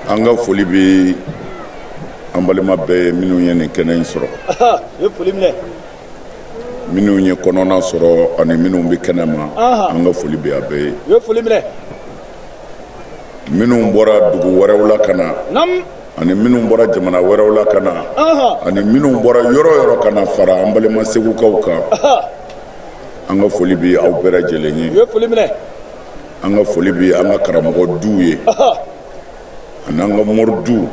an ka foli bɛ an balima bɛɛ ye minnu ye nin kɛnɛ in sɔrɔ minnu ye kɔnɔna sɔrɔ ani minnu bɛ kɛnɛ ma an ka foli bɛ a bɛɛ ye minnu bɔra dugu wɛrɛw la ka na ani minnu bɔra jamana wɛrɛw la ka na ani minnu bɔra yɔrɔ yɔrɔ ka na fara an balima segukaw kan an ka foli bɛ aw bɛɛ lajɛlen ye an ka foli bɛ an ka karamɔgɔ duw ye ani an ka mori duw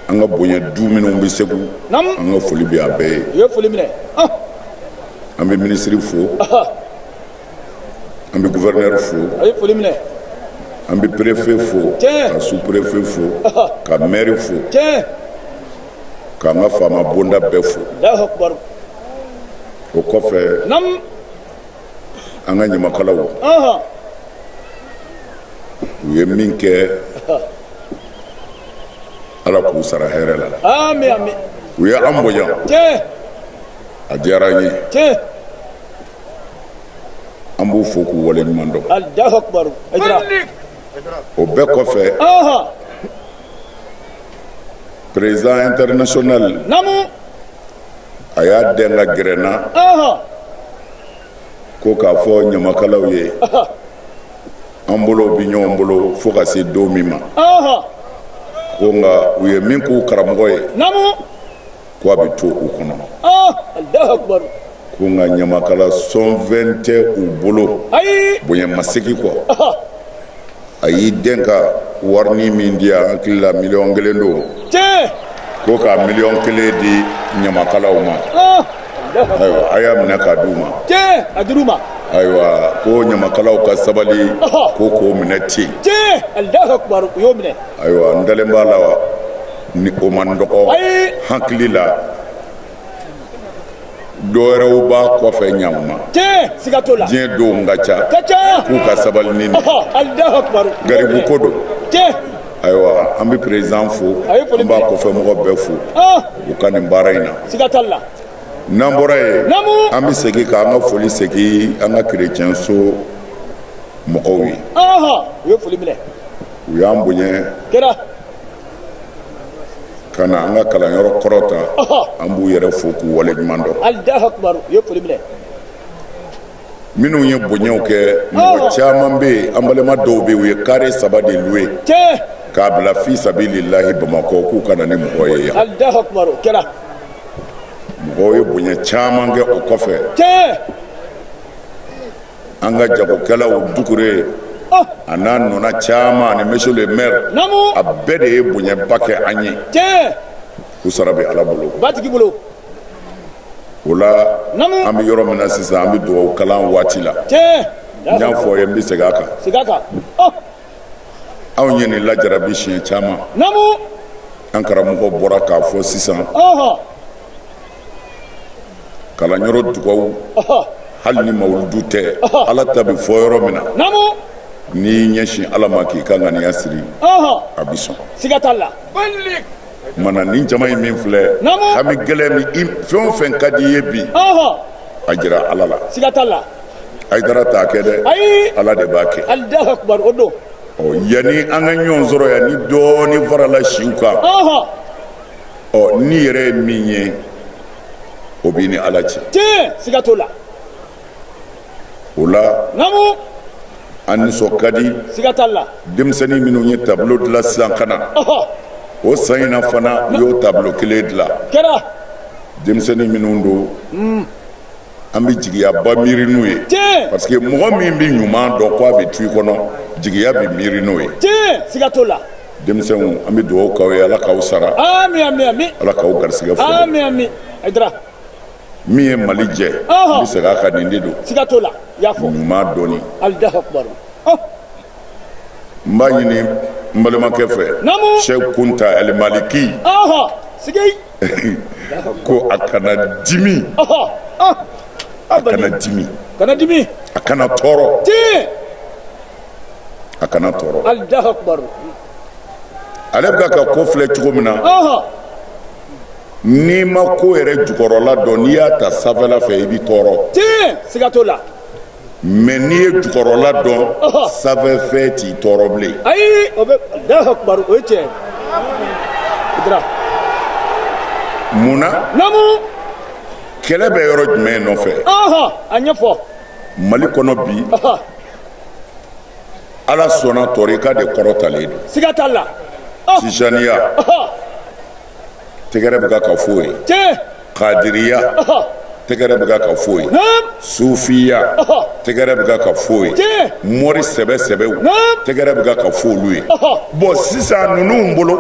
an ka bonya du minnu bɛ segu an ka foli bɛ a bɛɛ ye an bɛ minisiri fo an bɛ gufɛrɛnɛri fo an bɛ perefe fo ka su perefe fo ka mɛri fo k'an ka faama bonda bɛɛ fo o kɔfɛ an ka ɲamakalaw u ye min kɛ ala k'u sara hɛrɛ la u ye an bonya a diyara an ye an b'u fo k'u wale ɲuman dɔn o bɛɛ kɔfɛ perezidan international a y'i dɛn ka gɛrɛ n na ko k'a fɔ ɲamakalaw ye an bolo bɛ ɲɔgɔn bolo fo ka se don min ma ko nka u ye min k'u karamɔgɔ ye ko a bɛ to u kɔnɔ ko nka ɲamakala sɔnfɛn tɛ u bolo bonya masegin kɔ a y'i dɛn ka warini min di an hakili la miliyɔn kelen don ko ka miliyɔn kelen di ɲamakalaw ma ah! ayiwa a y'a minɛ k'a d'u ma a dir'u ma ayiwa ko ɲamakalaw ka sabali ko k'o minɛ ten u y'o minɛ ayiwa n dalen b'a la warini o man dɔgɔ hakili la dɔ wɛrɛw b'a kɔfɛ ɲakuma diɲɛ donw ka ca k'u ka sabali nin garibu ko don ayiwa an bɛ perezidan fo an b'a kɔfɛ mɔgɔ bɛɛ fo u ka nin baara in na n'an bɔra yen an bɛ segin ka an ka foli segin an ka kerecɛnso mɔgɔw ye u y'an bonya ka na an ka kalanyɔrɔ kɔrɔta an b'u yɛrɛ fo k'u wale ɲuman dɔn minnu ye bonyaw kɛ mɔgɔ caman bɛ yen an balima dɔw bɛ yen u ye kare saba de luwe k'a bila fi sabililahi bamakɔ k'u ka na ni mɔgɔ ye yan mɔgɔw ye bonya caman kɛ o kɔfɛ an ka jagokɛlaw dukure a n'a ɲɔgɔnna caman ani monsieur le maire a bɛɛ de ye bonyaba kɛ an ye u sara bɛ ala bolo matigi bolo o la an bɛ yɔrɔ min na sisan an bɛ dugawu kalan waati la n y'a f'aw ye n bɛ segin a kan segin a kan anw ye nin lajarabi siɲɛ caman an karamɔgɔ bɔra k'a fɔ sisan kalanyɔrɔ dugawu hali ni mawuludu tɛ ala ta bɛ fɔ yɔrɔ min na n'i y'i ɲɛsin ala ma k'i ka ŋaniya siri a bɛ sɔn siga t'a la mina nin jama in min filɛ hami gɛlɛn min i fɛn o fɛn ka di i ye bi a jira ala la siga t'a la ayidara t'a kɛ dɛ ala de b'a kɛ alahu akubar o don yanni an ka ɲɔgɔn sɔrɔ yan ni dɔɔnin farala siw kan ɔ ni yɛrɛ ye min ye o b'i ni ala cɛ tiɲɛ siga t'o la o la namu an nisɔn ka di siga t'a la denmisɛnnin minnu ye tablo dilan sisan ka na ɔhɔ o san in na fana u y'o tablo kelen dilan kɛra denmisɛnnin minnu don an bɛ jigiyaba miiri n'u ye parce que mɔgɔ min bɛ ɲuman dɔn k' a bɛ to i kɔnɔ jigiya bɛ miiri n'o ye denmisɛnw an bɛ dugawu k'aw ye ala k'aw sara ala k'aw garijɛgɛ fɔ min ye mali jɛ bɛ se ka nin de don ɲuman dɔn n b'a ɲini n balimakɛ fɛ sɛ kunta maliki ko a kana dimi a kana dimi kana dimi a kana tɔɔrɔ a kana tɔɔrɔ ale bɛ ka ko filɛ cogo min na n'i ma ko yɛrɛ jukɔrɔla dɔn n'i y'a ta sanfɛla fɛ i bɛ tɔɔrɔ siga t'o la mais n'i ye jukɔrɔla dɔn sanfɛ fɛn t'i tɔɔrɔ bilen ayi abada alahu akubaru o ye tiɲɛ dira mun na namu kɛlɛ bɛ yɔrɔ jumɛn nɔfɛ a ɲɛfɔ mali kɔnɔ bi ala sɔnna tarika de kɔrɔtalen don siga t'a la tijaniya tɛgɛrɛ bɛ ka ka fɔ ye kadiriya tɛgɛrɛ bɛ ka ka fɔ ye sufiya tɛgɛrɛ bɛ ka ka fɔ ye mori sɛbɛ sɛbɛw tɛgɛrɛ bɛ ka ka fɔ olu ye bon sisan ninnu bolo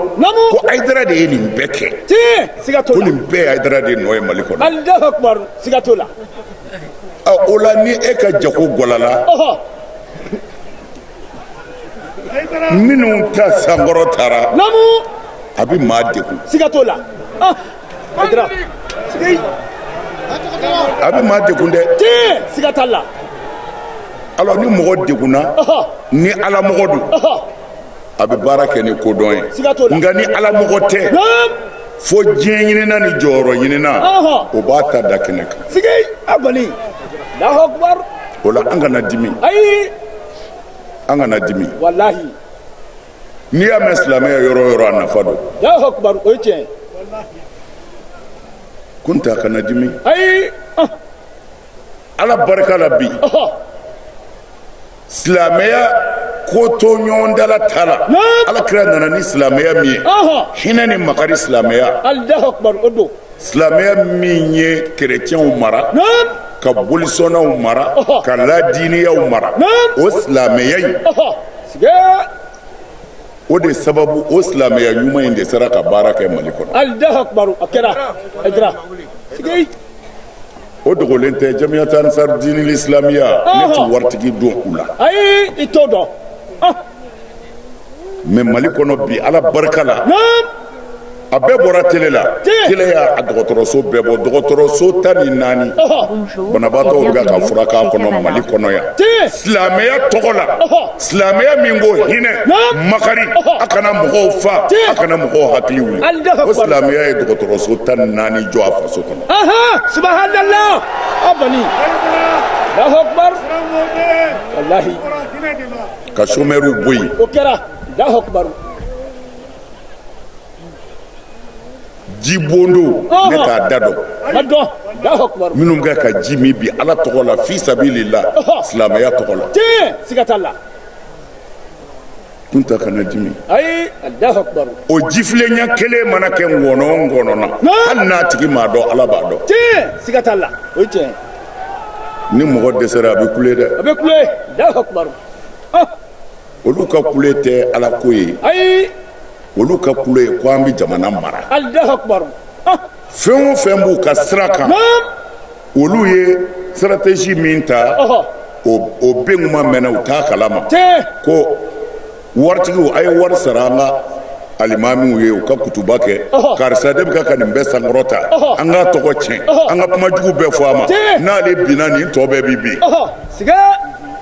ko ayidara de ye nin bɛɛ kɛ ko nin bɛɛ ye ayidara de nɔ ye mali kɔnɔ o la ni e ka jago gɔlala minnu ta sankɔrɔtara a bɛ maa degun siga t'o la ah, a bɛ maa degun dɛ siga t'a la alors ni mɔgɔ degunna ni ala mɔgɔ don a bɛ baara kɛ ni kodɔn ye nka ni ala mɔgɔ tɛ fo diɲɛ ɲinina ni jɔyɔrɔ ɲinina o b'a ta da kɛnɛ kan o la an kana dimi an kana dimi walahi n'i y'a mɛn silamɛya yɔrɔ yɔrɔ a nafa don alahu akubar o ye tiɲɛ kunta kana dimi ayi ah. ala barika la bi silamɛya kotoɲɔgɔntala ta la ala kira nana ni silamɛya min ye hinɛ ni makari silamɛya alahu akubar o don silamɛya min ye kerecɛnw mara ka bolisɔnnaw mara ka ladiiniyaw mara o silamɛya in o de sababu o silamɛya ɲuman in de sera ka baara kɛ mali kɔnɔ o dogolen tɛ jamiyata ansar dinil islamiya ne tɛ waritigi dɔn u la ayi i t'o dɔn mais mali kɔnɔ bi ala barika la a bɛɛ bɔra tele la tele y'a a dɔgɔtɔrɔso bɛɛ bɔ dɔgɔtɔrɔso tan ni naani banabaatɔw bɛ ka furak'a kɔnɔ mali kɔnɔ yan silamɛya tɔgɔ la silamɛya min ko hinɛ makari a kana mɔgɔw fa a kana mɔgɔw hakili wuli ko silamɛya ye dɔgɔtɔrɔso tan ni naani jɔ a faso kɔnɔ subahanala abani alahu akubar walahi ka somɛriw bɔ yen o kɛra alahu akubaru jibondo ne t'a da dɔn minnu bɛ ka ji min bi ala tɔgɔ la fi sabililahi silamɛya tɔgɔ la siga t'a la kunta kana dimi ayi allahu akbar o jifilen ɲɛ kelen mana kɛ ngɔnɔ o ngɔnɔ na hali n'a tigi m'a dɔn ala b'a dɔn tiɲɛ siga t'a la o ye tiɲɛ ni mɔgɔ dɛsɛra a bɛ kule dɛ a bɛ kule allahu akbar olu ka kule tɛ ala ko ye ayi olu ka kule ye ko an bɛ jamana mara alahu akubar ah. fɛn o fɛn b'u ka sira kan olu ye stratégie min ta o bɛ kuma mɛnɛ u t'a kalama ko waritigiw a ye wari sara an ka alimamiw ye u ka kutuba kɛ karisa de bɛ ka ka nin bɛɛ sankɔrɔta an k'a tɔgɔ tiɲɛ an ka kuma jugu bɛɛ fɔ a ma n'ale binna nin tɔ bɛɛ bi bin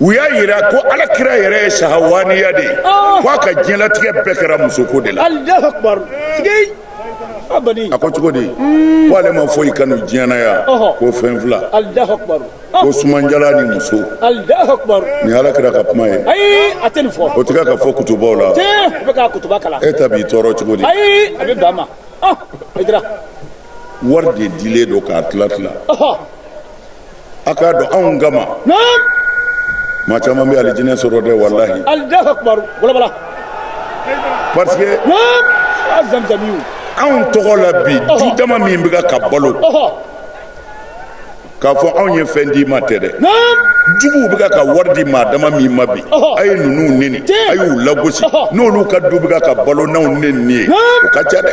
u y'a jira ko ala kira yɛrɛ ye sahawaniya de ye ko a ka diɲɛlatigɛ bɛɛ kɛra musoko de la a ko cogo di ko ale ma foyi kanu diɲɛ na yan ko fɛn fila ko sumadiyalan ni muso nin ala kira ka kuma ye o tɛ ka fɔ kutubaw la e ta b'i tɔɔrɔ cogo di wari de dilen don k'a tila tila a k'a dɔn anw kama maa caman bɛ alijinɛ sɔrɔ dɛ walahi parce que anw tɔgɔ la bi du dama min bɛ ka balo k'a fɔ anw ye fɛn d'i ma tɛ dɛ juguw bɛ ka wari di maa dama min ma bi a ye ninnu neni a y'u lagosi n'olu ka du bɛ ka balo n'anw neni ye o ka ca dɛ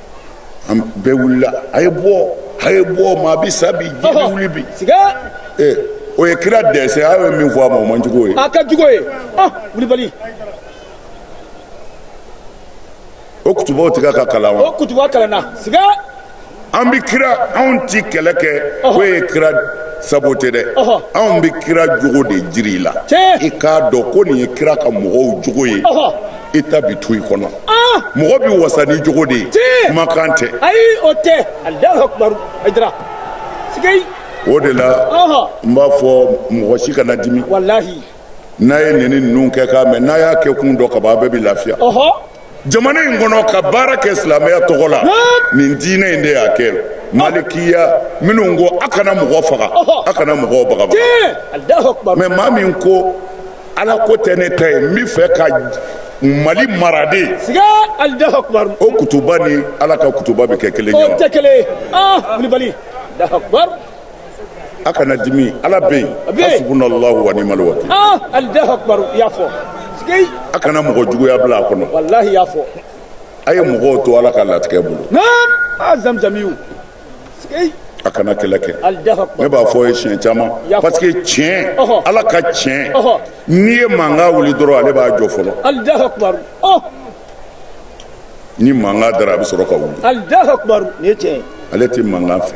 an bɛɛ wulila a ye bɔ a ye bɔ maa bɛ sa bi diɲɛ wuli bi ee o ye kira dessin a ye min fɔ a ma o man jugu ye a ka jugu ye kulibali o kutubaw tɛ ka kalan wa o kutuba kalanna siga an bɛ kira anw ti kɛlɛ kɛ k'o ye kira saboter dɛ anw bɛ kira jogo de jira i la i k'a dɔn ko nin ye kira ka mɔgɔw jogo ye i ta bi to i kɔnɔ ah! mɔgɔ bɛ wasa ni jogo de ye kumakan tɛ ayi o tɛ alahu akubaru ayidara siga o de la n b'a fɔ mɔgɔ si kana dimi walahi n'a ye neni ninnu kɛ k'a mɛn n'a y'a kɛkun dɔn kaban a bɛɛ bɛ lafiya jamana in kɔnɔ ka baara kɛ silamɛya tɔgɔ la nin diinɛ in de y'a kɛ malikiya minnu ko a kana mɔgɔ faga a kana mɔgɔw bagabaga mais maa min ko ala ko tɛ ne ta ye n b'a fɛ ka mali mara de siga alahu akubar o kutuba ni ala ka kutuba bɛ kɛ kelen ye o tɛ kelen ye ah kulibali alahu akubar a kana dimi ala bɛ yen hasbunallahu wa ni'mal wakil ah alahu akubar i y'a fɔ siga a kana mɔgɔ juguya bila a kɔnɔ walahi i y'a fɔ a ye mɔgɔw to ala ka latigɛ bolo naam ah zamzamiw a kana kɛlɛ kɛ ne b'a fɔ a ye siɲɛ caman parce que tiɲɛ ala ka tiɲɛ n'i ye mankan wuli dɔrɔn ale b'a jɔ fɔlɔ ni mankan dara a bɛ sɔrɔ ka wuli ale tɛ mankan fɛ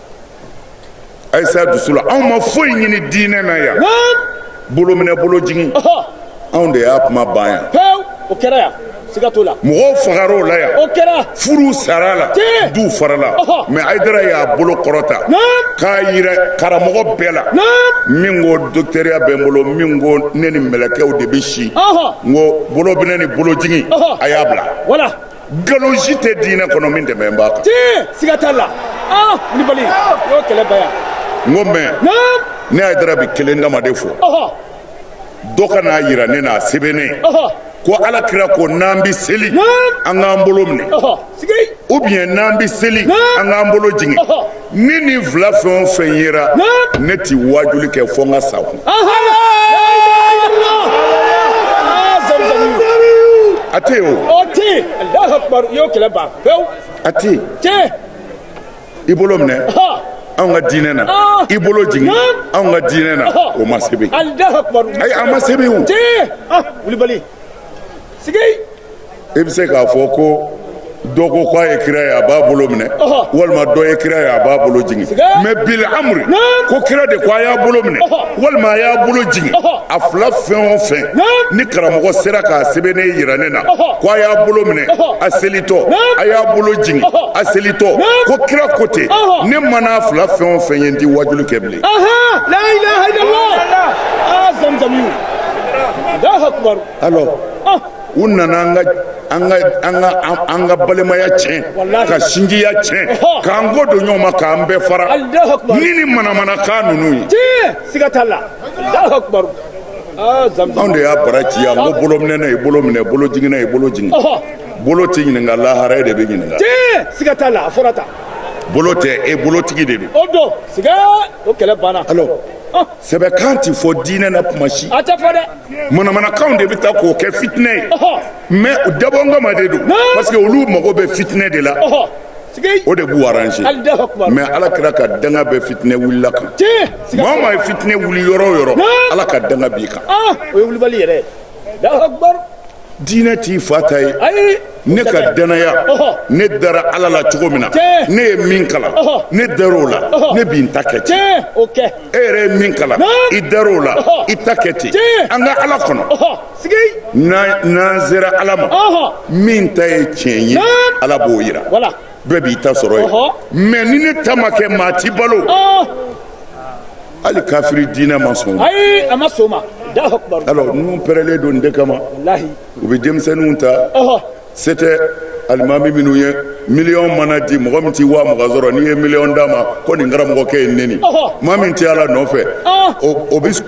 ayisa dusu la anw ma foyi ɲini diinɛ na yan bolo minɛ bolo jigin anw de y'a kuma ban yan pewu o kɛra yan siga t'o la mɔgɔw fagara o la yan o kɛra furuw sara a la Tiɲɛ. duw farala Ɔhɔ. mais ayidara y'a bolo kɔrɔta Naam. k'a yira karamɔgɔ bɛɛ la Naam. min ko dɔkitɛriya bɛ n bolo min ko ne ni mɛlɛkɛw de bɛ si Ɔhɔ. n ko bolo minɛ ni bolo jigin Ɔhɔ. a y'a bila wala nkalon si tɛ diinɛ kɔnɔ min dɛmɛ b'a kan. tiɲɛ siga t'a la aa wulibali y'o kɛlɛ bɛɛ yan. n ko mɛ ne y'a dara bi kelen dama de fɔ dɔ ka n'a yira ne n'a sɛbɛnnen ko ala kira ko n'an bɛ seli an k'an bolo minɛ ou bien n'an bɛ seli an k'an bolo jigin. ni nin fila fɛn o fɛn yera ne tɛ waajuli kɛ fo n ka sa kun a tɛ yen o o tɛ yen alahu akubaru i y'o kɛlɛ ban pewu a tɛ yen tiɲɛ i bolo minɛ ha anw ka diinɛ na Ah. i bolo jigin Ah. anw ka diinɛ na Ah. o ma sɛbɛn alahu akubaru ayi a ma sɛbɛn o tiɲɛ ah wulibali sigi e bɛ se k'a fɔ ko dɔ ko k'a ye kira ye a b'a bolo minɛ walima dɔ ye kira ye a b'a bolo jigin mɛ bil amri ko kira de ko a y'a bolo minɛ walima a y'a bolo jigin a fila fɛn o fɛn ni karamɔgɔ sera k'a sɛbɛnnen yira ne na ko a y'a bolo minɛ a selitɔ a y'a bolo jigin a selitɔ ko kira ko ten ne man'a fila fɛn o fɛn ye n ti waajuli kɛ bilen ah, alors u nana an ka an ka an ka an ka balimaya tiɲɛ ka sinjiya tiɲɛ k'an kɔ don ɲɔgɔn ma k'an bɛɛ fara ni ni manamanakan ninnu ye siga t'a la anw de y'a bara ci an kun bolominɛna i bolo minɛ bolojiginna i bolo jigin bolo tɛ ɲininka lahara e de bɛ ɲininka siga t'a la a fɔra tan bolo tɛ e bolotigi de don o don siga o kɛlɛ banna alors sɛbɛkan tɛ fɔ diinɛ na tuma si a tɛ fɔ dɛ manamanakanw de bɛ taa k'o kɛ fitinɛ ye mɛ u dabɔnkama de don parce que olu mago bɛ fitinɛ de la o de b'u arranger mɛ ala kira ka danga bɛ fitinɛ wulila kan maa o maa ye fitinɛ wuli yɔrɔ o yɔrɔ ala ka danga b'i kan ah, o ye wulibali yɛrɛ ye diinɛ t'i fa ta ye ne ka danaya ne dara ala la cogo min na ne ye min kalan ne dara o la ne bɛ n ta kɛ ten e yɛrɛ ye min kalan i dara o la i ta kɛ ten an ka ala kɔnɔ n'an sera ala ma min ta ye tiɲɛ ye ala b'o jira bɛɛ b'i ta sɔrɔ yen mɛ ni ne ta ma kɛ maa t'i balo hali kafiri diinɛ ma sɔn ayi a ma sɔn ma Alahu akibar alors ninnu pɛrɛlen don nin de kama walahi u bɛ denmisɛnninw ta ɔhɔ se tɛ alimami minnu ye miliyɔn mana di mɔgɔ min tɛ waa mugan sɔrɔ n'i ye miliyɔn d'a ma ko nin karamɔgɔkɛ ye neni Ɔhɔ. maa min tɛ ala nɔfɛ Ah. o o bɛ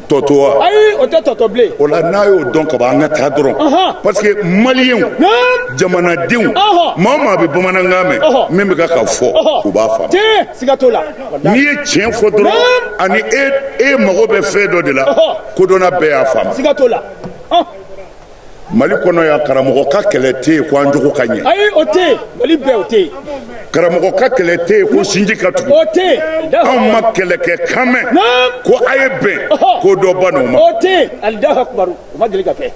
tɔ to wa ayi o tɛ tɔ to bilen o la n'a y'o dɔn ka ban an ka taa dɔrɔn Ɔhɔ. parce que maliyɛnw Naam. jamanadenw Ɔhɔ. maa o maa bɛ bamanankan mɛn Ɔhɔ. min bɛ ka ka fɔ ɔhɔ u b'a faamu tiɲɛ siga t'o la n'i ye tiɲɛ fɔ dɔrɔn ani e e mago bɛ fɛn dɔ de la kodɔnna bɛɛ y'a faamu mali kɔnɔ yan karamɔgɔ ka kɛlɛ tɛ yen ko an jogo ka ɲɛ ayi o tɛ yen mali bɛɛ o tɛ yen karamɔgɔ ka kɛlɛ tɛ yen ko sinji ka tugu o tɛ yen anw ma kɛlɛ kɛ kan mɛn ko a ye bɛn ko dɔ bann'o ma o tɛ yen alahu akubaru o ma deli ka kɛ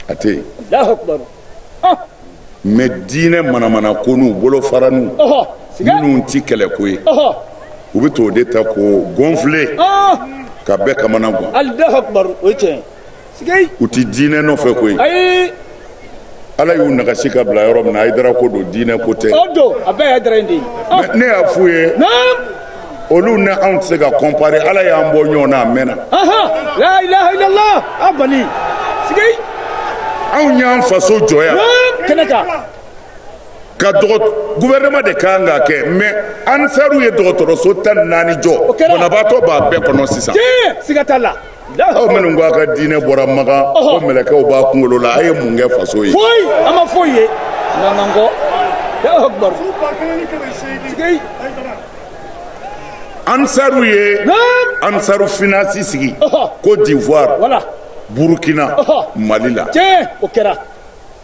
a tɛ yen alahu akubaru mais diinɛ manamanakonu bolofaranu minnu tɛ kɛlɛ ko ye u bɛ t'o de ta k'o gonfler ka bɛɛ kamana gan u tɛ diinɛ nɔfɛ ko ye ala y'u nagasi ka bila yɔrɔ min na ayidara ko don diinɛ ko tɛ ne y'a f'u ye olu ni anw tɛ se ka comparer ala y'an bɔ ɲɔgɔn na a mɛnna anw y'an faso jɔ yan kɛnɛ kan ka gouvernement de ka kan k'a kɛ mais ansaruw ye dɔgɔtɔrɔso tan ni naani jɔ banabaatɔ b'a bɛɛ kɔnɔ sisan siga t'a la aw minnu ko a ka diinɛ bɔra makan ko mɛlɛkɛw b'a kunkolo la a ye mun kɛ faso ye foyi an ma foyi ye n'an kɔ ansaru ye ansaru finance sigi côte d'ivoire burukina mali la o kɛra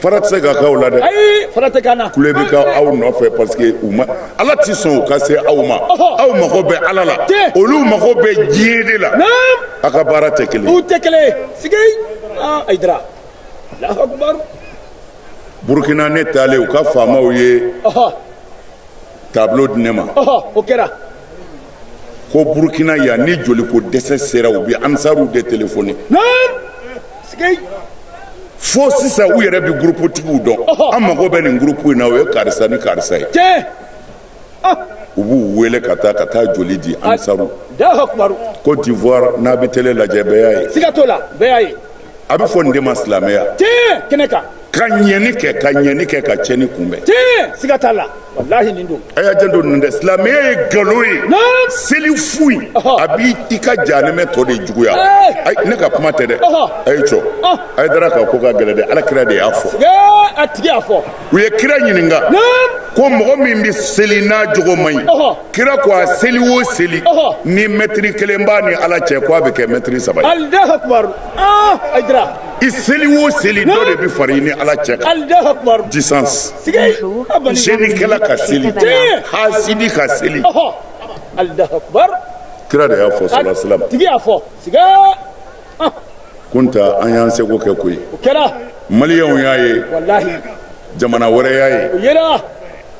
fara tɛ se ka k'aw la dɛ fara tɛ k'an na kule bɛ k'aw nɔfɛ parce que u ma ala tɛ sɔn u ka se aw ma aw mago bɛ ala la olu mago bɛ diɲɛ de la a ka baara tɛ kelen u tɛ kelen sigi ah, ayidara burukina ne taalen u ka faamaw ye tableau di ne ma o kɛra ko burukina yan ni joliko dɛsɛ sera u bɛ ansaruw de telefoni fo sisan u yɛrɛ bɛ guruputigiw dɔn an mago bɛ nin gurupu in na o ye karisa ni karisa ye ah. u b'u wele ka taa ka taa joli di ansaru côte d'ivoire n'a bɛ tele lajɛ bɛɛ y'a ye a bɛ fɔ nin de ma silamɛya tiɲɛ kɛnɛ kan ka ɲɛni kɛ ka ɲɛni kɛ ka cɛni kunbɛn tiɲɛ siga t'a la walahi nin don a y'a janto nin tɛ silamɛya ye nkalon ye Naam. seli fu ye Ɔhɔ. a b'i i ka janɛmɛ tɔ de juguya Ee. Ayi, ne ka kuma tɛ dɛ Ɔhɔ. a ye cɔ Ɔh. ayidara ka ko ka gɛlɛn dɛ ala kira de y'a fɔ ee a tigi y'a fɔ u ye kira ɲininka ko mɔgɔ min bɛ seli n'a jogo man ɲi kira ko a seli o seli ni mɛtiri kelen b'a ni ala cɛ ko a bɛ kɛ mɛtiri saba ye ah, i seli o seli dɔ de bɛ far'i ni ala cɛ kan distance cɛnikɛla ka seli hasidi ka seli kira de y'a fɔ salasilam kunta an y'an seko kɛ koyi maliyɛnw y'a ye jamana wɛrɛ y'a ye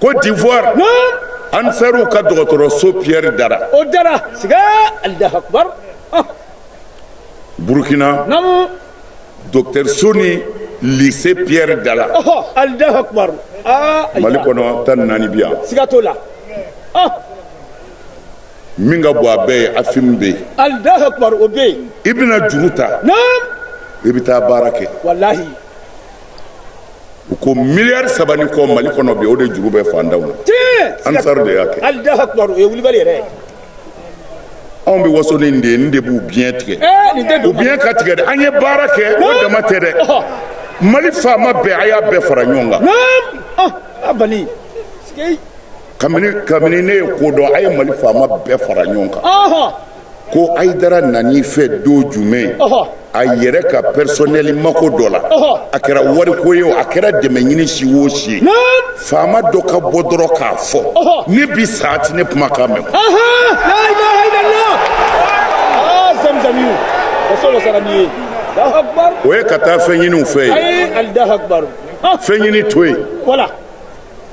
kodiwari ansariw ka dɔgɔtɔrɔso piyɛri dara o dara siga alahu akubar burukina dɔgɔtɔrɔso ni lise piyɛri dara alahu akubar mali kɔnɔ tan ni naani bi yan siga t'o la min ka bon a bɛɛ ye a filimu bɛ yen alahu akubar o bɛ yen i bɛna juru ta naam i bɛ taa baara kɛ walahi u ko miliyari saba ni kɔ mali kɔnɔ bi o de juru bɛ fantanw na tiɲɛ ansar de y'a kɛ alahu akubar o ye wulibali yɛrɛ ye anw bɛ waso ni nin de ye nin de b'u biɲɛ tigɛ ee nin tɛ u don biɲɛ ka tigɛ dɛ an ye baara kɛ o dama tɛ dɛ Ɔhɔ. mali faama bɛɛ a y'a bɛɛ fara ɲɔgɔn kan naam ah a bali sigi kabini kabini ne ye ko dɔn a ye mali faama bɛɛ fara ɲɔgɔn kan ko ayidara nana i fɛ don jumɛn a yɛrɛ ka pɛrisɔnɛli mako dɔ la a kɛra wariko ye o a kɛra dɛmɛ ɲini si o si ye faama dɔ ka bɔ dɔrɔn k'a fɔ ne bi sa a ti ne kumakan mɛn o ye ka taa fɛn ɲini u fɛ yen fɛn ɲini to yen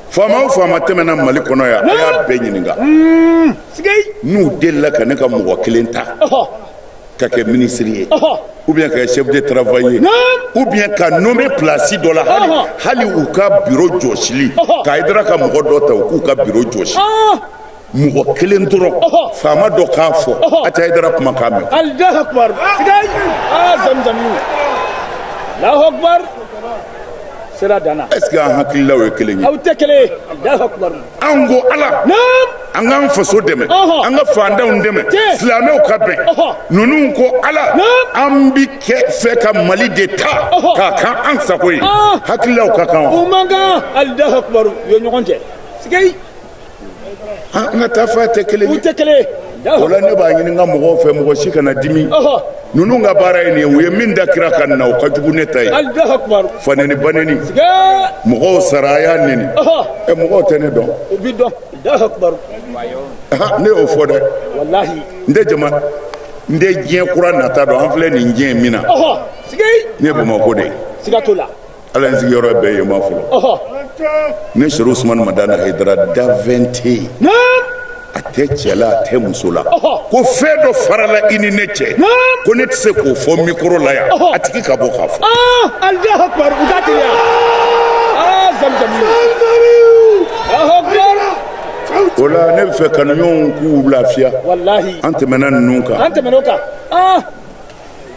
faama o faama tɛmɛna mali kɔnɔ yan a y'a bɛɛ ɲininka hmm, n'u delila ka ne ka mɔgɔ kelen ta ka kɛ minisiri ye ou bien ka kɛ chef de travail ye ou bien ka nommé place dɔ la hali hali u ka biro jɔsili ka ayidara ka mɔgɔ dɔ ta u k'u ka biro jɔsi mɔgɔ kelen dɔrɔn faama dɔ k'a fɔ a tɛ ayidara kumakan mɛn alahu akubar sigayi aa zamzami alahu akubar sera danna est ce que an hakililaw ye kelen ye aw tɛ kelen ye alahu akubar an ko ala naam an k'an faso dɛmɛ an ka fantanw dɛmɛ silamɛw ka bɛn ninnu ko ala an bi kɛ fɛ ka mali de ta k'a kɛ an sago ye hakililaw ka kan wa o man kan alahu akubar u ye ɲɔgɔn cɛ sigayi ah, an ka taafan tɛ kelen ye tɛ kelen o la ne b'a ɲini n ka mɔgɔw fɛ mɔgɔ si kana dimi ninnu ka baara ye nin ye u ye min da kira kanna o ka jugu ne ta ye fanɛni banɛni mɔgɔw sara a y'a nɛni ɛ mɔgɔw tɛ ne dɔn ne y'o fɔ dɛ n tɛ jama n tɛ diɲɛ kura nata dɔn an filɛ nin diɲɛ min na ne ye bamakɔ de ye ala ye sigiyɔrɔ bɛɛ ye ma fɔlɔ ne serifu usumani madani ayidara danfɛn tɛ yen a tɛ cɛ la a tɛ muso la ko fɛn dɔ farala i ni ne cɛ ko ne tɛ se k'o fɔ mikoro la yan a tigi ka bɔ k'a fɔ o la ne b'a fɛ kanuɲɔgɔnw k'u lafiya an tɛmɛna ninnu kan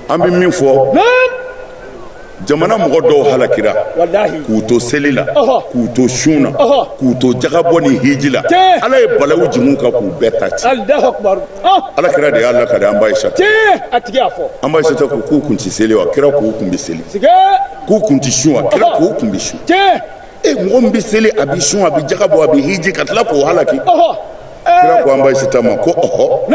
an bɛ min fɔ jamana mɔgɔ dɔw halakira k'u to seli la k'u to sun na k'u to jagabɔ ni hiji la ala ye balawu jigi u kan k'u bɛɛ ta ci ala kira de y'a lakali an ba ayisa an ba ayisa ko k'u kun ti seli wa kira k'u kun bɛ seli k'u kun ti sun wa kira k'u kun bɛ sun e mɔgɔ min bɛ seli a bɛ sun a bɛ jagabɔ a bɛ hiji ka tila k'o halaki kira ko an ba ayisa ma ko ɔhɔ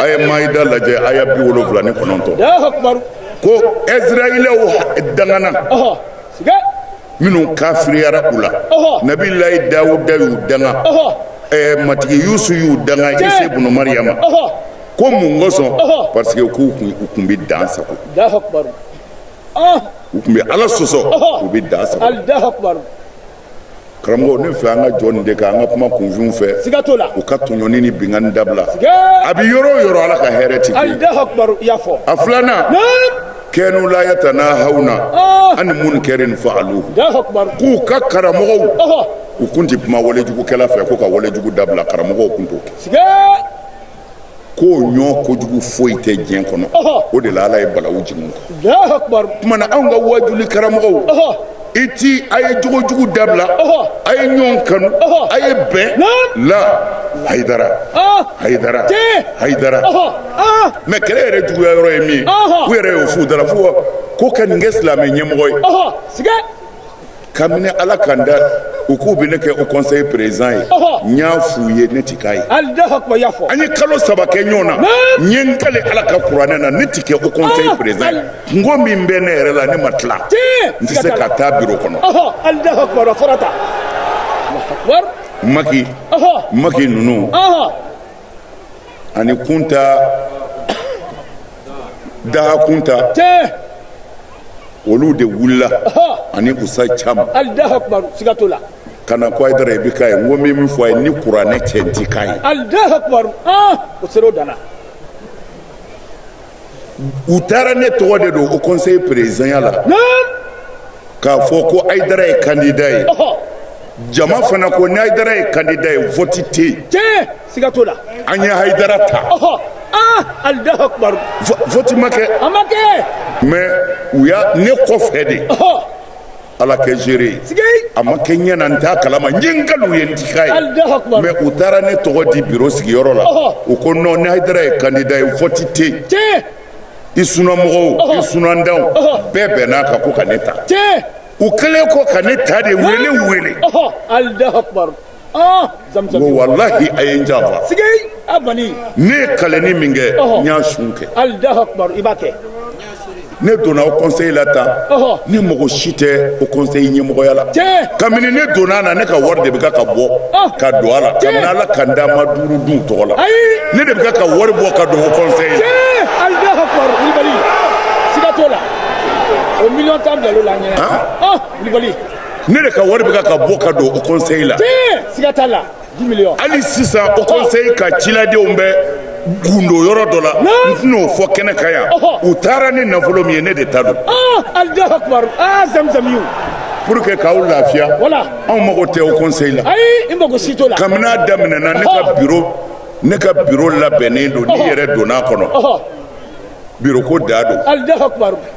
a ye mayida lajɛ aya bi wolonwula ni kɔnɔntɔn ko isirayilaw dangana minnu kafiriyara u la nabilayi dawuda y'u danga matigi yesu y'u danga isa bunu mariyama ko mun kosɔn parce que k'u tun bɛ dan sagon u tun bɛ ala sɔsɔ u bɛ dan sagon karamɔgɔ ne fɛ an ka jɔ nin de kan an ka kuma kunfinw fɛ siga t'o la u ka tɔɲɔni ni binkanni dabila a bɛ yɔrɔ o yɔrɔ ala ka hɛrɛ ti a filanan kanu la yatanahauna ah. ani munkarin faalu k'u ka karamɔgɔw u kun ti kuma walejugukɛla fɛ k'o ka walejugu dabila karamɔgɔw kun t'o kɛ k'o ɲɔgɔn kojugu foyi tɛ diɲɛ kɔnɔ o de la ala ye balawu jigin u ma n'anw ka wajuli karamɔgɔw i ti a ye jogojugu dabila a ye ɲɔgɔn kanu a ye bɛn la hayidara hayidara hayidara mais kɛlɛ yɛrɛ juguya yɔrɔ ye min u yɛrɛ y'o f'u da la fo ko ka nin kɛ silamɛ ɲɛmɔgɔ ye kabini ala ka n da u k'u bɛ ne kɛ haut conseil président ye n y'a f'u ye ne ti k'a ye an ye kalo saba kɛ ɲɔgɔn na n ye n kali ala ka kuranɛ na ne ti kɛ haut conseil ah, président ye ah. kunko min bɛ ne yɛrɛ la ne ma tila n tɛ se ka taa biro kɔnɔ maki maki ninnu ani kunta daha kunta olu de wulila ani usa caman ka na ko ayidara i bɛ k'a ye n ko n bɛ min fɔ a ye ni kuranɛ cɛ n ti k'a ye. u taara ne tɔgɔ de don haut conseil présidentya la k'a fɔ ko ayidara ye candidat ye jama fana ko ni ayidara ye candidat ye vote tɛ yen tiɲɛ siga t'o la an ye ayidara ta ah alahu akubaru vote ma kɛ a ma kɛ mais u y'a ne kɔfɛ de ala kɛ gérer a ma kɛ n ɲɛ na n t'a kalama n ye n kal'u ye n ti k'a ye mais u taara ne tɔgɔ di biro sigiyɔrɔ la u ko non ni hayidara ye kandida ye vote tɛ yen i sunamɔgɔw i sunantanw bɛɛ bɛnn'a kan ko ka ne ta u kɛlen kɔ ka ne ta de u ye ne wele ko walahi a ye n janfa ne ye kalenni min kɛ n y'a sun kɛ ne donna haut conseil la tan ne mago si tɛ haut conseil ɲɛmɔgɔya la kabini ne donna a na ne ka wari de bɛ ka ka bɔ ka don a la kabini ala ka n da n ma duuru dun tɔgɔ la ne de bɛ ka ka wari bɔ ka don haut conseil la. o million tan bila l'o la an ɲɛna. Kulibali. ne de ka wari bɛ ka bɔ ka don haut conseil la siga t'a la hali sisan haut conseil ka ciladenw bɛ gundo yɔrɔ dɔ la n tɛn'o fɔ kɛnɛ kan yan u taara ni nafolo min ye ne de ta don pour que k'aw lafiya anw mago tɛ haut conseil la kabini a daminɛna ne ka biro ne ka biro labɛnnen don n'i yɛrɛ donn'a kɔnɔ biro ko dan don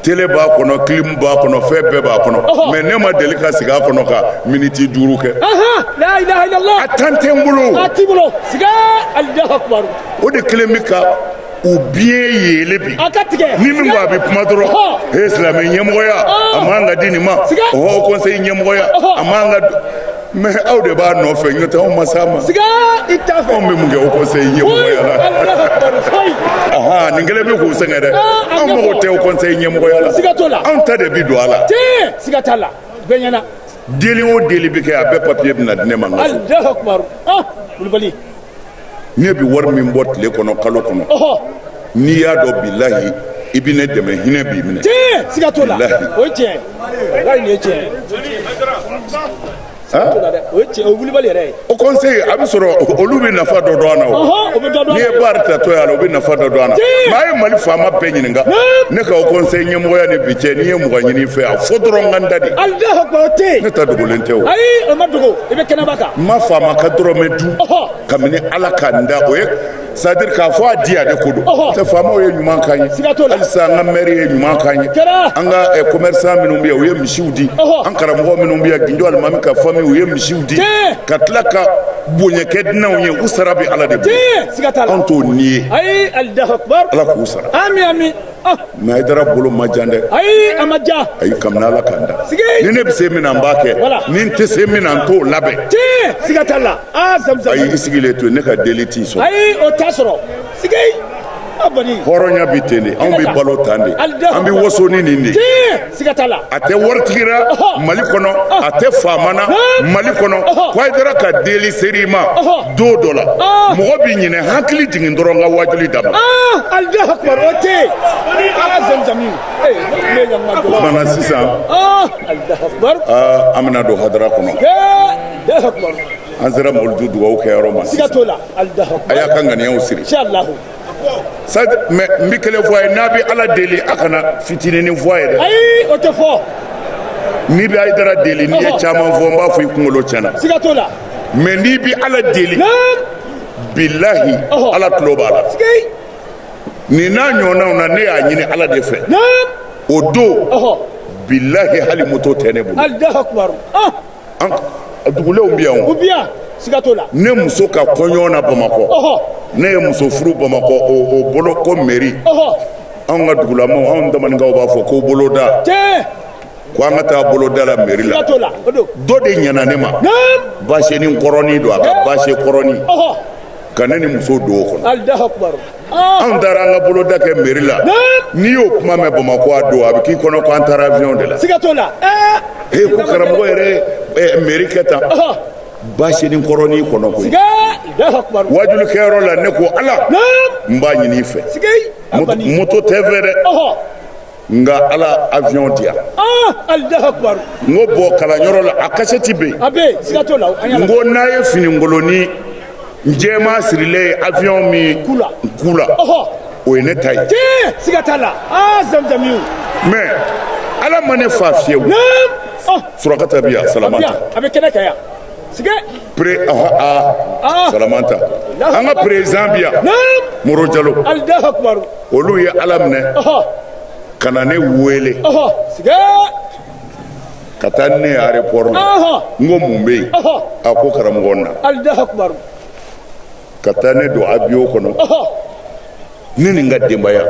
tele b'a kɔnɔ clim b'a kɔnɔ fɛn bɛɛ b'a kɔnɔ mais ne ma deli ka sigi a kɔnɔ ka miniti duuru kɛ a temps tɛ n bolo o de kelen bɛ ka u biɲɛ yeele bi ni min ko a bɛ kuma dɔrɔn he silamɛ ɲɛmɔgɔya a man ka di nin ma haut conseil ɲɛmɔgɔya a man ka mais aw de b'a nɔfɛ n'o tɛ anw ma s'a ma anw bɛ mun kɛ haut conseil ɲɛmɔgɔya la nin kelen bɛ k'u sɛgɛn dɛ anw mago tɛ haut conseil ɲɛmɔgɔya la anw ta de bi don a la deli o deli bɛ kɛ a bɛɛ papiye bɛna di ne ma ne bɛ wari min bɔ tile kɔnɔ kalo kɔnɔ n'i y'a dɔn bilahi i bɛ ne dɛmɛ hinɛ b'i minɛ tiɲɛ siga t'o la o ye tiɲɛ ye wari nin ye tiɲɛ ye o ye tiɲɛ o ye wulibali yɛrɛ ye haut conseil a bɛ sɔrɔ olu bɛ nafa dɔ dɔn an na o o bɛ dɔ dɔn n'i ye baari ta to yan la o bɛ nafa dɔ dɔn an na Tiɲɛ. mais a ye mali faama bɛɛ ɲininka ne ka haut conseil ɲɛmɔgɔya ni bi cɛ ni n ye mugan ɲini i fɛ a fɔ dɔrɔn n ka n da de alahu akbar o tɛ yen ne ta dogolen tɛ o ayi o ma dogo i bɛ kɛnɛba kan n ma faama ka dɔrɔmɛ kabini ala ka n da o ye c'est-à-dire k'a fɔ a diya de ko don tɛ faamaw ye ɲuman k'an ye halisa an ka mɛri ye ɲuman k'an ye an ka kɔmɛrisan eh, minnu bɛ yan u ye misiw di an karamɔgɔ minnu bɛ yan gindo alimami ka fami u ye misiw di ka tila ka bonya kɛ dunanw ye u sara bɛ ala de bolo anw t'o ni ye ala k'u sara Ah. mais Haidara bolo ma jan dɛ ayi a ma ja ayi kabini ala ka n da ni ne bɛ se min na n b'a kɛ ni n tɛ se min na n t'o labɛn tiɲɛ siga t'a la aa zamzam ayi i sigilen to ne ka deli t'i sɔrɔ ayi o t'a sɔrɔ sigi hɔrɔnya bɛ ten de anw bɛ balo tan de an bɛ waso ni nin de siga t'a la a tɛ waritigi ra mali kɔnɔ a tɛ faama na mali kɔnɔ ko ayidara ka deli ser'i ma don dɔ la mɔgɔ bi ɲinɛ hakili jigin dɔrɔn n ka wajuli dama alahu akbar o tɛ yen ala zamzami kumana sisan an bɛna don hadara kɔnɔ an sera mawuludu dugawu kɛyɔrɔ ma siga t'o la a y'a ka ŋaniyaw siri mɛ n bɛ kelen fɔ a ye n'a bɛ ala deli a kana fitininin fɔ a ye dɛ ayi o tɛ fɔ n'i bɛ ayidara deli n'i ye caman fɔ n b'a fɔ i kunkolo tiɲɛna siga t'o la mɛ n'i bɛ ala deli bilahi ala tulo b'a la nin n'a ɲɔgɔnnaw na ne y'a ɲini ala de fɛ o don bilahi hali moto tɛ ne bolo an dugulenw bɛ yan o bi yan siga t'o la ne muso ka kɔɲɔ na bamakɔ ne ye muso furu bamakɔ o bolo ko meri anw ka dugulamaw anw tamaninkaw b'a fɔ ko boloda ko an ka taa boloda la meri la dɔ de ɲana ne ma baseni kɔrɔni don a ka base kɔrɔni ka ne ni muso don o kɔnɔ anw taara an ka boloda kɛ meri la n'i y'o kuma mɛn bamakɔ a don a bɛ k'i kɔnɔ ko an taara avion de la he ko karamɔgɔ yɛrɛ meri kɛ tan baseni kɔrɔni kɔnɔ koyi wajuli kɛyɔrɔ la ne ko ala n b'a ɲini i fɛ moto tɛ n fɛ dɛ nka ala avion di yan ah, n ko bɔ kalanyɔrɔ la a kasɛti bɛ yen n ko n'a ye fininkolonin jɛma sirilen ye avion min ku la o ye ne ta ye ah, mɛ ala ma ne fa fiyewu oh. surakata bi yan salamanta pre salamanta an ka perezidan bi yan moro jalo olu ye ala minɛ ka na ne wele ka taa ne arepɔri la n ko mun bɛ yen a ko karamɔgɔ na ka taa ne don abiyɔn kɔnɔ ne ni n ka denbaya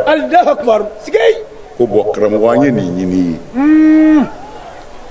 ko bɔn karamɔgɔ an ye nin ɲini i ye hmm.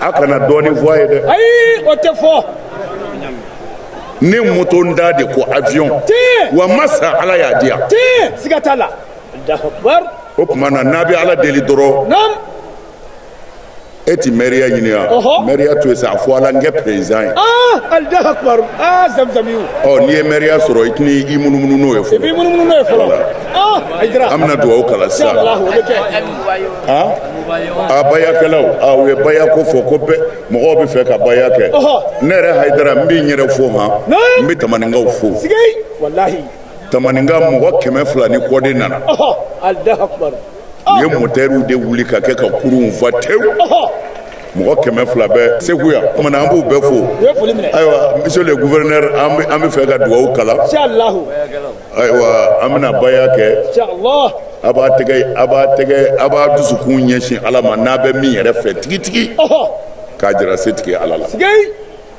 a kana dɔɔnin fɔ a ye dɛ ayi o tɛ fɔ ne motontan de ko avion tiɲɛ wa n ma sa ala y'a di yan tiɲɛ siga t'a la o tuma na n'a bɛ ala deli dɔrɔn naamu e ti mɛriya ɲini yan mɛriya to yen sa a fɔ ala n kɛ perezidan ye alahu akubaru aa zamzamiw ɔ n'i ye mɛriya sɔrɔ i tɛna i munumunu n'o ye fɔlɔ i b'i munumunu n'o ye fɔlɔ an bɛna dugawu kalan sisan a bayakɛlaw a u ye bayako fɔ ko bɛɛ mɔgɔw bɛ fɛ ka baya kɛ ne yɛrɛ hayidara n bɛ n yɛrɛ fo han n bɛ tamaninkaw fo tamaninka mɔgɔ kɛmɛ fila ni kɔ de nana u ye mɔtɛriw de wuli ka kɛ ka kurunw fa tewu mɔgɔ kɛmɛ fila bɛ segu yan o kumana an b'u bɛɛ fo ayiwa monsieur le gouverneur an bɛ fɛ ka dugawu kalan ayiwa an bɛna baya kɛ a b'a tɛgɛ a b'a tɛgɛ a b'a dusukun ɲɛsin ala ma n'a bɛ min yɛrɛ fɛ tigitigi k'a jira setigi ala la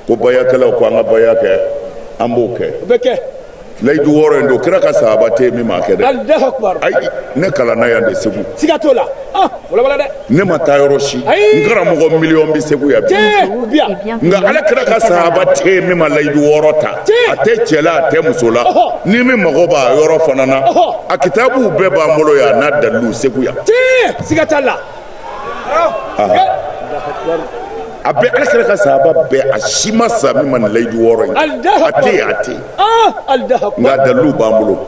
ko bayakɛlaw ko an ka baya kɛ an b'o kɛ layidu wɔɔrɔ in don kira ka sahaba tɛ min m'a kɛ dɛ ne kalanna yan de segu siga t'o la ne ma taa yɔrɔ si n karamɔgɔ miliyɔn bɛ segu yan bi nka ala kira ka sahaba tɛ min ma layidu wɔɔrɔ ta a tɛ cɛ la a tɛ muso la ni min mago b'a yɔrɔ fana na a kitabuw bɛɛ b'an bolo yan n'a dalilu segu yan siga t'a la a bɛ ala kira ka sahaba bɛɛ a si ma sa min ma nin layidu wɔɔrɔ in a tɛ a tɛ nka dalilu b'an bolo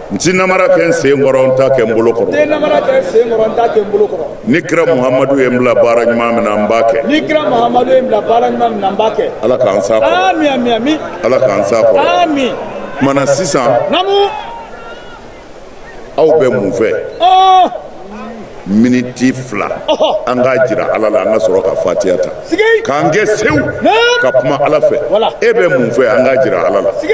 n tɛ namara kɛ n sen kɔrɔ n t'a kɛ n bolo kɔrɔ ni kira muhamadu ye n bila baara ɲuman min na n b'a kɛ ni kira muhamadu ye n bila baara ɲuman min na n b'a kɛ ala k'an s'a kɔrɔ ami ami ami ala k'an s'a kɔrɔ ami kumana sisan namu aw bɛ mun fɛ ɔɔ miniti fila Ɔhɔ. an k'a jira ala la an ka sɔrɔ ka fatiya ta sigi k'an kɛ sew Naam. ka kuma ala fɛ Wala. e bɛ mun fɛ an k'a jira ala la sigi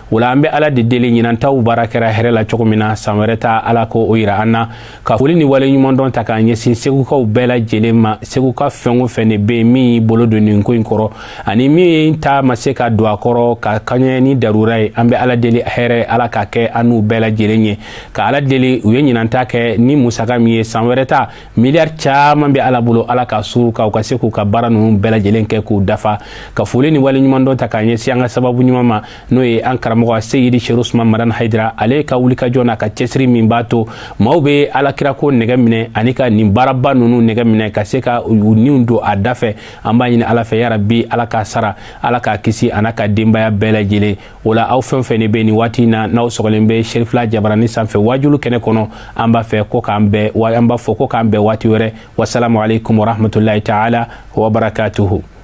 o la an bɛ ala de deli ɲinan taw baara kɛra hɛrɛ la cogo min na san wɛrɛ ta ala k'o yira an na ka foli ni waleɲumandɔn ta k'a ɲɛsin segukaw bɛɛ lajɛlen ma seguka fɛn o fɛn de bɛ yen min y'i bolo don nin ko in kɔrɔ ani min ta ma se ka don a kɔrɔ ka kaɲɛ ni darura ye an bɛ ala deli hɛrɛ ala k'a kɛ an n'u bɛɛ lajɛlen ye ka ala deli u ye ɲinan ta kɛ ni musaka min ye san wɛrɛ ta miliyari caman bɛ ala bolo ala k'a suuru u kan u ka se k'u ka baara ninnu bɛɛ lajɛlen kɛ k'u dafa ka foli ni waleɲumandɔn ta k'a ɲɛsin an ka sababu ɲuman ma n'o ye an karamɔgɔ seyidi serifu usumani madani hayidara ale ka wulikajɔ n'a ka cɛsiri min b'a to maaw bɛ alakirako nɛgɛ minɛ ani ka nin baaraba ninnu nɛgɛ minɛ ka se ka u niw don a dafɛ an b'a ɲini ala fɛ yarabi ala k'a sara ala k'a kisi an'a ka denbaya bɛɛ lajɛlen o la aw fɛn fɛn ne bɛ nin waati in na n'aw sɔgɔlen bɛ serifila jabaranin sanfɛ waajulu kɛnɛ kɔnɔ an b'a fɛ ko k'an bɛn wa an b'a fɔ ko k'an bɛn waati wɛrɛ wasalamu aleykum warahmatulahi taala wabarakatuhu